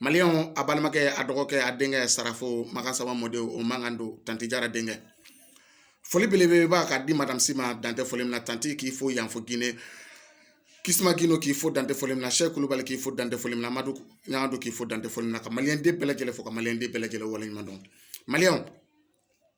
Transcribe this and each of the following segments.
maliyɛnw a balimakɛ a dɔgɔkɛ a denkɛ sarafo makan saba mɔden o mankan don tanti jara denkɛ foli belebeleba ka di madamu si ma dan tɛ foli min na tanti k'i fo yan fo gine kisuma gino k'i fo dan tɛ foli min na sɛki kulubali k'i fo dan tɛ foli min na madu ɲangado k'i fo dan tɛ foli min na ka maliyɛnden bɛɛ lajɛlen fo ka maliyɛnden bɛɛ lajɛlen waleɲuman dɔn maliyɛnw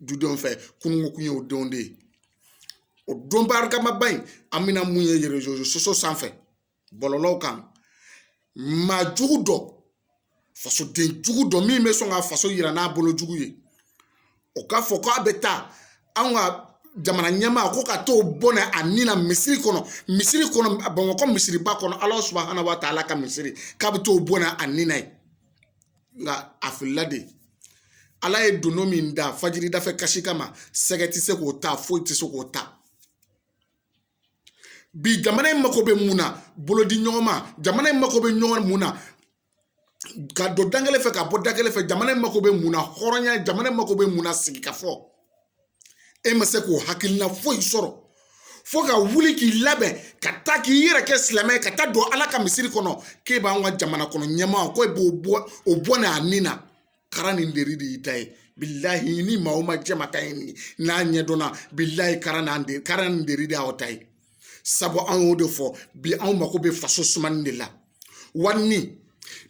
dudenw fɛ kunun kun ye o don de ye o don barikamaba in an bɛna mun ye erezo sosiyo sanfɛ bɔlɔlɔw kan maa jugu dɔ fasoden jugu dɔ min bɛ sɔn ka faso yira n'a bolo jugu ye o k'a fɔ k'a bɛ taa anw ka jamana ɲɛmaa ko ka t'o bɔnɛ a ni na misiri kɔnɔ misiri kɔnɔ bamakɔ misiriba kɔnɔ ala subahana wa taala ka misiri k'a bɛ t'o bɔnɛ a ni na yen nka a filila dɛ ala ye donon min da fajiri dafɛ kasi kama sɛgɛ tɛ se k'o ta foyi tɛ se k'o ta bi jamana in mako bɛ mun na bolodiɲɔgɔnma jamana in mako bɛ ɲɔgɔn mun na ka don da kelen fɛ ka bɔ da kelen fɛ jamana in mako bɛ mun na hɔrɔnya jamana in mako bɛ mun na sigikafɔ e ma se k'o hakilina foyi sɔrɔ fo ka wuli k'i labɛn ka taa k'i yɛrɛ kɛ silamɛ ye ka taa don ala ka misiri kɔnɔ k'e b'an ka jamana kɔnɔ ɲɛmaa ko e bɛ o bɔnɛ a ni na kara ni nɛri de y'i ta ye bilahi ni maa o maa jɛma ka ye nin n'a ɲɛdɔnna bilahi kara ni nɛ kara ni nɛri de y'aw ta ye sabu an y'o de fɔ bi anw mako bɛ faso sumani de la wa ni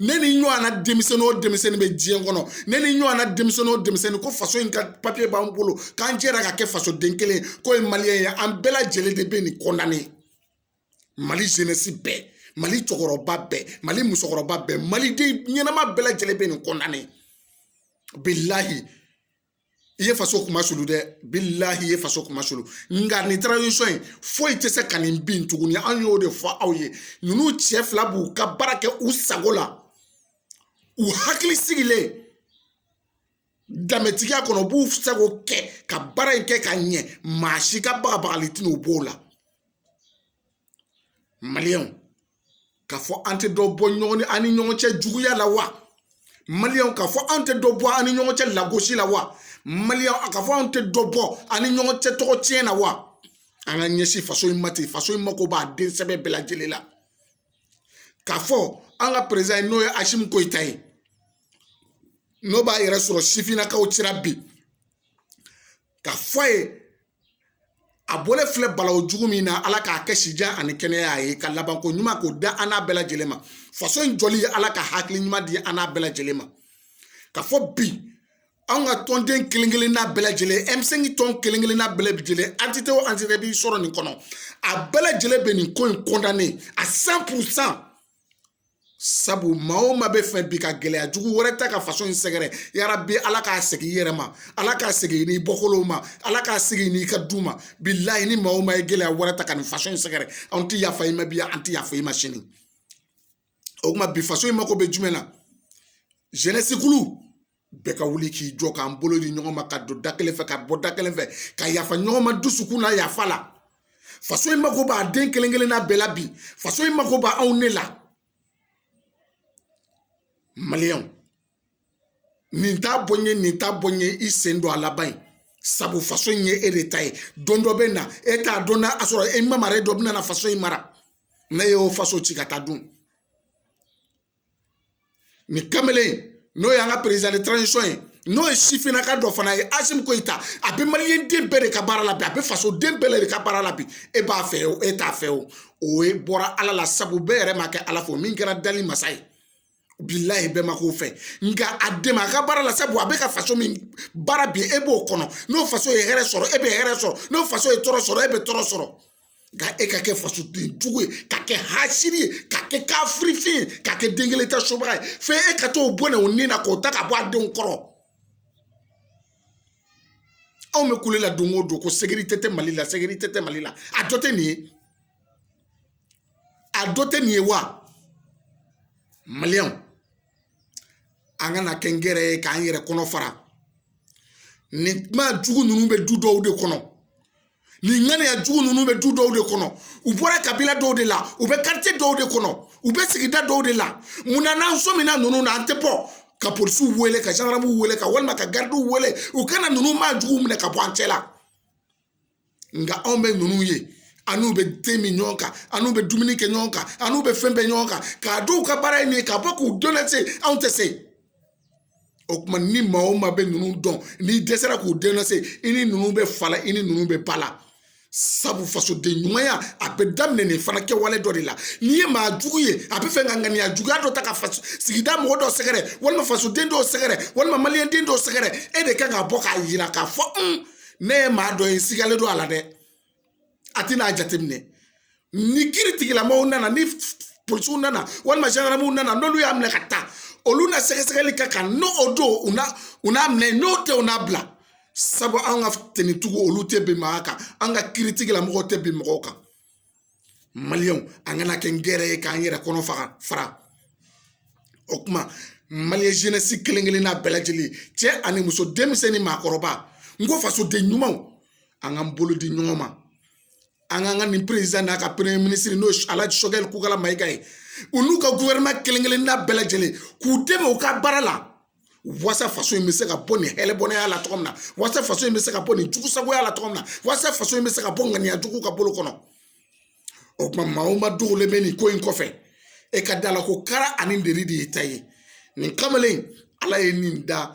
ne ni ɲɔgɔnna denmisɛnnin o denmisɛnnin bɛ diɲɛ kɔnɔ ne ni ɲɔgɔnna denmisɛnnin o denmisɛnnin ko faso in ka papiye b'an bolo k'an jɛra ka kɛ fasoden kelen ye k'o ye maliyɛn ye an bɛɛ lajɛlen de bɛ nin kɔndane mali zenesi bɛɛ mali cɛkɔrɔba bɛɛ mali musokɔrɔba bɛɛ maliden ɲɛnama bɛɛ lajɛlen bɛ nin kɔndane bilahi i ye faso kunmasulu dɛ bilahi i ye faso kunmasulu nka nin taransisɔn in foyi tɛ se ka nin bin tuguni an y'o de fɔ aw ye ninnu cɛ fila b'u ka baara kɛ u sago la u hakili sigilen danbetigiya kɔnɔ u b'u sago kɛ ka baara in kɛ ka ɲɛ maa si ka bagabagali tɛna u b'o la maliyɛnw k'a fɔ an tɛ dɔ bɔ ɲɔgɔn ni an ni ɲɔgɔn cɛ juguya la wa maliyɛnw k'a fɔ an tɛ dɔ bɔ an ni ɲɔgɔn cɛ lagosi la wa maliyɛnw a k'a fɔ an tɛ dɔ bɔ an ni ɲɔgɔn cɛ tɔgɔ tiɲɛ na wa an k'an ɲɛsin faso in ma ten faso in mako b'a den sɛbɛ bɛɛ lajɛlen la k'a fɔ an ka perezidan n'o ye asimi koyita ye n'o b'a yɛrɛ sɔrɔ sifinnakaw cira bi k'a fɔ a ye a bɔlen filɛ balawu jugu min na ala k'a kɛ sijan ani kɛnɛya ye ka labanko ɲuman k'o da an n'a bɛɛ lajɛlen ma faso in jɔli ye ala ka hakili ɲuman di an n'a bɛɛ lajɛlen ma k'a fɔ bi anw ka tɔnden kelen kelenna bɛɛ lajɛlen ɛmisɛnki tɔn kelen kelenna bɛɛ lajɛlen antite o antite bɛ sɔrɔ nin kɔnɔ a bɛɛ lajɛlen bɛ nin ko in kɔndane a san puru san sabu maa o maa bɛ fɛ bi ka gɛlɛya jugu wɛrɛ ta ka faso in sɛgɛrɛ yarabi ala k'a segin i yɛrɛ ma ala k'a segin n'i bɔkolow ma ala k'a segin n'i ka du ma bilayi ni maa o maa ye gɛlɛya wɛrɛ ta ka nin faso in sɛgɛrɛ anw ti yafa i ma bi an ti yafa i ma sini o kuma bi faso in mako bɛ jumɛn na zenɛsi kulu bɛɛ ka wuli k'i jɔ k'an bolo di ɲɔgɔn ma ka don da kelen fɛ ka bɔ da kelen fɛ ka yafa ɲɔgɔn ma dusukun na yafa la faso in mako b'a den kelen kelen na bɛɛ la bi faso in mako b'anw ne la maliyɛnw nin t'a bɔ n ye nin t'a bɔ n ye i sen don a la bani sabu faso in ye e de ta ye don dɔ bɛ na e t'a dɔn n'a sɔrɔ e mamaren dɔ bɛna na faso in mara n'e y'o faso ci ka taa dun nin kamalen n'o y'an ka président de transition ye n'o ye sifinnaka dɔ fana ye asimi goyita a bɛ maliyɛnden bɛɛ de ka baara la bi a bɛ faso den bɛɛ de ka baara la bi e b'a fɛ o e t'a fɛ o o ye bɔra ala la sabu bɛɛ yɛrɛ ma kɛ ala fɛ min kɛra dali masa ye bilayi bɛɛ ma k'o fɛ nka a dɛmɛ a ka baara la sabu a bɛ ka faso min baara bi e b'o kɔnɔ n'o faso ye hɛrɛ sɔrɔ e bɛ hɛrɛ sɔrɔ n'o faso ye tɔɔrɔ sɔrɔ e bɛ tɔɔrɔ sɔrɔ nka e ka kɛ fasoden jugu ye ka kɛ hasiri ye ka kɛ kafirifin ye ka kɛ den kelen ta subaga ye fo e ka t'o bɔnɛ o ni na k'o ta ka bɔ a denw kɔrɔ anw bɛ kule la don o don ko sekirite tɛ mali la sekirite tɛ mali la a dɔ tɛ nin ye a dɔ tɛ nin ye wa maliyɛnw an kana kɛ nkɛrɛn ye k'an yɛrɛ kɔnɔ fara nin maa jugu ninnu bɛ du dɔw de kɔnɔ nin ŋaniya jugu ninnu bɛ du dɔw de kɔnɔ u bɔra kabila dɔw de la u bɛ karitiye dɔw de kɔnɔ u bɛ sigida dɔw de la munna n'an sɔmina ninnu na an tɛ bɔ ka polisiw wele ka zandaramw wele ka walima ka garidiw wele u ka na ninnu maa juguw minɛ ka bɔ an cɛ la nka anw bɛ ninnu ye an n'u bɛ te min ɲɔgɔn kan an n'u bɛ dumuni kɛ ɲɔgɔn kan an n'u bɛ fɛn bɛɛ ɲɔgɔn kan k'a dɔn u ka baara ye nin ye ka bɔ k'u denɔnse anw tɛ se o kuma ni maa o maa bɛ ninnu dɔn n'i dɛsɛra k'u denɔnse i ni ninnu bɛ fa la i ni ninnu bɛ ba la sabu fasoden ɲumanya a bɛ daminɛ nin fana kɛwale dɔ de la n'i ye maa jugu ye a bɛ fɛ ka ŋaniya juguya dɔ ta ka faso sigida mɔgɔ dɔ sɛgɛrɛ walima fasoden dɔw sɛgɛrɛ walima maliyɛnden dɔw sɛgɛrɛ e de kan ka bɔ k'a yira k'a fɔ ne ye maa dɔ ye sigalen don a la dɛ a tɛna a jateminɛ ni kiritigɛlamɔgɔw nana ni polisiw nana walima zandaramaw nana n'olu y'a minɛ ka taa olu na sɛgɛsɛgɛli k'a kan n'o don u na u n'a minɛ n'o tɛ u n'a bila sabu an ka tenitigiw olu tɛ bɛn maa kan an ka kiritigɛlamɔgɔw tɛ bɛn mɔgɔw kan maliyɛnw an kana kɛ nkɛrɛn ye k'an yɛrɛ kɔnɔ faga fara o kuma maliyɛn zenɛsi kelen kelenna bɛɛ lajɛlen cɛ ani muso denmisɛnnin maakɔrɔba n ko fasoden ɲumanw an k'an bolo di ɲɔgɔn ma an k'an ka nin perezidan n'a ka peremiye minisiri n'o ala sogɛli kokala mayiga ye u n'u ka guvɛrɛnɛma kelen kelenna bɛɛ lajɛlen k'u dɛmɛ u ka baara la wasa faso in bɛ se ka bɔ nin hɛlɛbɔnɛya la cogo min na wasa faso in bɛ se ka bɔ nin jugusagoya la cogo min na wasa faso in bɛ se ka bɔ ŋaniya juguw ka bolo kɔnɔ o tuma maa o maa dogolen bɛ nin ko in kɔfɛ e ka da la ko kara ani deri de y'i ta ye nin kamalen ala ye nin da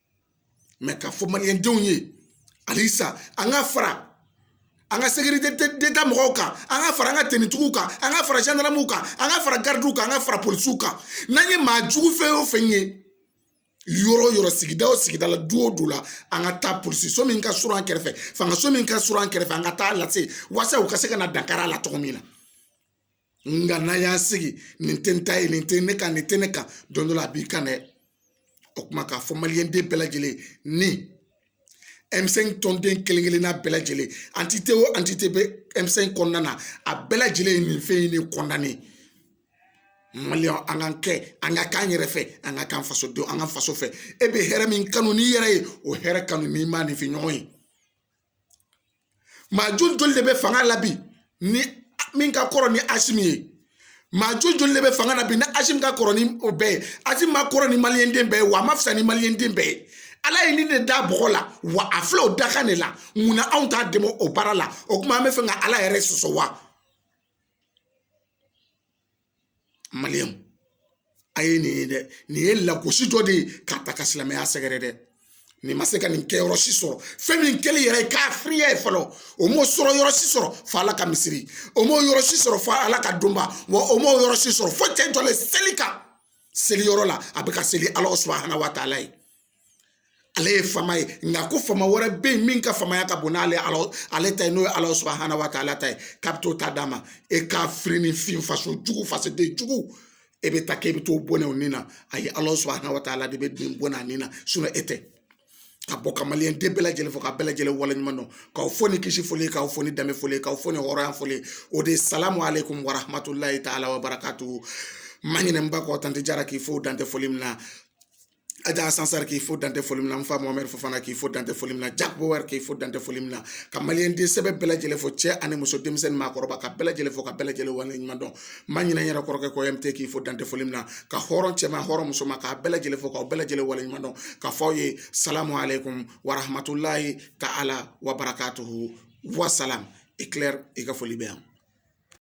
k'a fɔ maliyɛndenw ye halisa an ka fara an ka sekirite deta mɔgɔw kan an ka fara an ka tenitigiw kan an ka fara zandaramuw kan an ka fara garidiw kan an ka fara polisiw kan n'an ye maa jugu fɛn o fɛn ye yɔrɔ o yɔrɔ sigida o sigida la du o du la an ka taa polisi so min ka surun an kɛrɛfɛ fanga so min ka surun an kɛrɛfɛ an ka taa a lase wasa u ka se ka na dankari a la cogo min na nka n'an y'an sigi nin tɛ n ta ye nin tɛ ne ka nin tɛ ne kan don dɔ la a b'i kan dɛ o kuma k'a fɔ maliyɛnden bɛɛ lajɛlen ni ɛmisɛnki tɔnden kelen kelenna bɛɛ lajɛlen antite o antite bɛ ɛmisɛnki kɔnɔna na a bɛɛ lajɛlen ye nin fɛn in de kɔnɔna ye maliyɛn an k'an kɛ an ka k'an yɛrɛ fɛ an ka k'an faso don an ka faso fɛ e bɛ hɛrɛ min kanu n'i yɛrɛ ye o hɛrɛ kanu n'i maaninfin ɲɔgɔn ye maa joli joli de bɛ fanga la bi ni min ka kɔrɔ ni asimi ye maa joli joli de bɛ fanga la bi ni asimi ka kɔrɔ ni o bɛɛ ye asimi man kɔrɔ ni maliyɛnden bɛɛ ye wa a man fisa ni maliyɛnden bɛɛ ye ala ye nin de da bɔgɔ la wa a filɛ o dakan de la mun na anw t'a dɛmɛ o baara la o kuma an b'a fɛ ka ala yɛrɛ sɔsɔ wa maliyɛn a ye nin ye dɛ nin ye lagosi dɔ de ye k'a ta ka silamɛya sɛgɛrɛ dɛ nin ma se ka nin kɛ yɔrɔ si sɔrɔ fɛn min kɛli yɛrɛ ye kafiriya ye fɔlɔ o m'o sɔrɔ yɔrɔ si sɔrɔ fo ala ka misiri o m'o yɔrɔ si sɔrɔ fo ala ka donba wa o m'o yɔrɔ si sɔrɔ fo cɛ in jɔlen seli kan seli yɔrɔ la a bɛ ka seli ala subahana wa taala ye ale ye faama ye nka ko faama wɛrɛ bɛ yen min ka faamaya ka bon n'ale ala ale ta ye n'o ye ala subahana wa taala ta ye k'a bɛ t'o ta d'a ma e kafirinin fin faso jugu fasoden jugu e bɛ taa k'e bɛ t'o bɔnɛ o ni na ayi ala subahana wa taala de bɛ den bɔnɛ a ni na e tɛ ka bɔ ka maliyɛnden bɛɛ lajɛlen fo ka bɛɛ lajɛlen waleɲuman dɔn k'aw fo ni kisi foli k'aw fo ni danbe foli k'aw fo ni hɔrɔnya foli o de ye salamu aleykum warahmatulahi taala wabarakatu ma ɲinɛ n ba kɔ tanti jara k'i fo dan tɛ foli min na aja sansari k'i fo dan tɛ foli min na n fa mamadi fofana k'i fo dan tɛ foli min na jaki bowɛri k'i fo dan tɛ foli min na ka maliyɛnden sɛbɛ bɛɛ lajɛlen fo cɛ ani muso denmisɛnnin maakɔrɔba ka bɛɛ lajɛlen fo ka bɛɛ lajɛlen wale ɲuman dɔn ma ɲinɛ n yɛrɛ kɔrɔkɛ kɔ yɛrɛ k'i fo dan tɛ foli min na ka hɔrɔn cɛman hɔrɔn musoman k'a bɛɛ lajɛlen fo k'aw bɛɛ lajɛlen wale ɲuman dɔn ka fɔ aw ye salamu aleykum warahamatulayi taala wa barakatuhu wasalamu ekilɛri i ka foli bɛ yan